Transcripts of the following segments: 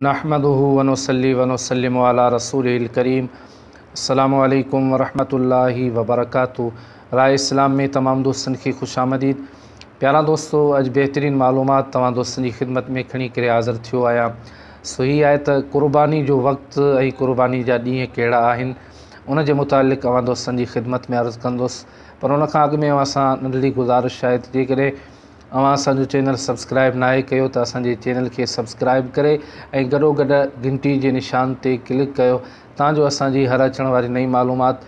نحمده ونصلي ونسلم علي رسوله الڪريم السلام عليڪم ورحمة الله وبرڪاته راء اسلام ۾ تمام دوستن کي خوش آمديد پيارا دوستو اڄ بهترين معلومات توهان دوستن جي خدمت ۾ کڻي ڪري حاضر ٿيو آهيان سو هي آهي ته قرباني جو وقت ۽ قرباني جا ڏينهن ڪهڙا آهن ان جي متعلق اوهان دوستن جي خدمت ۾ عرض ڪندس پر ان کان اڳ ۾ اوهان سان ننڍڙي گذارش آهي ته جيڪڏهن اوهان اسان جو چينل سبسڪرائب ناهي ڪيو ته اسان جي چينل کي سبسڪرائب ڪري ۽ گڏو گڏ گهنٽي جي نشان تي ڪلڪ ڪيو تان جو اسان جي هر اچڻ واري نئين معلومات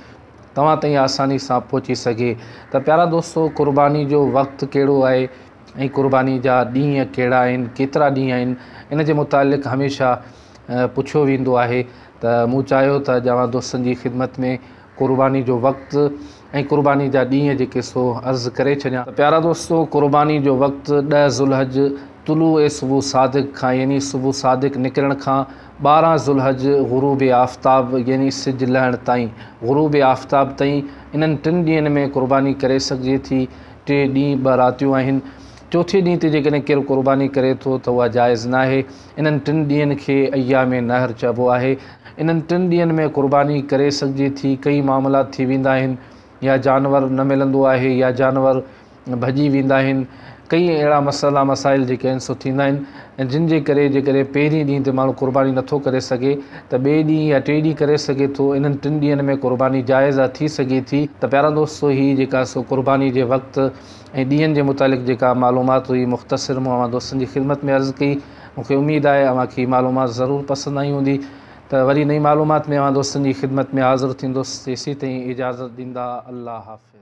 توهان تائين آساني سان پهچي سگهي ته پيارا دوستو قرباني جو وقت ڪهڙو آهي ۽ قرباني جا ڏينهن ڪهڙا آهن ڪيترا ڏينهن آهن ان جي متعلق هميشه پڇيو ويندو آهي ته مون چاهيو ته اڄ اوهان دوستن جي خدمت ۾ قرباني جو وقت ۽ قرباني جا ڏينهن جي قصو عرض ڪري ڇڏيان. ته پيارا دوستو! قرباني جو وقت ڏهه ذوالحج طلوع صبح صادق کان يعني صبح صادق نڪرڻ کان ٻارهن ذوالحج غروب آفتاب يعني سج لهڻ تائين، غروب آفتاب تائين، انهن ٽن ڏينهن ۾ قرباني ڪري سگهجي ٿي. ٽي ڏينهن ٻه راتيون آهن. چوٿين ڏينهن تي جيڪڏهن ڪير قرباني ڪري ٿو ته اها جائز ناهي. انهن ٽن ڏينهن کي ايام نحر چئبو آهي. انهن ٽن ڏينهن ۾ قرباني ڪري سگهجي ٿي، ڪئي معاملات ٿي ويندا آهن، يا جانور نه ملندو آهي يا جانور ڀڄي ويندا آهن، ڪئي اهڙا مسئلا مسائل جيڪي آهن سو ٿيندا آهن ۽ جن جي ڪري جيڪڏهن پهرين ڏينهن تي ماڻهو قرباني نٿو ڪري سگهي ته ٻئي ڏينهن يا ٽئي ڏينهن ڪري سگهي ٿو، انهن ٽن ڏينهن ۾ قرباني جائز آهي ٿي سگهي ٿي. ته پيارا دوستو هي جيڪا سو قرباني جي وقت ۽ ڏينهن جي متعلق جيڪا معلومات هئي مختصر مون اوهان دوستن جي خدمت ۾ عرض ڪئي مون کي اميد آهي اوهان کي هي معلومات ضرور پسند آئي هوندي ته وري نئين معلومات ۾ اوهان دوستن جي خدمت ۾ حاضر ٿيندس تيسين تائين اجازت ڏيندا الله حافظ.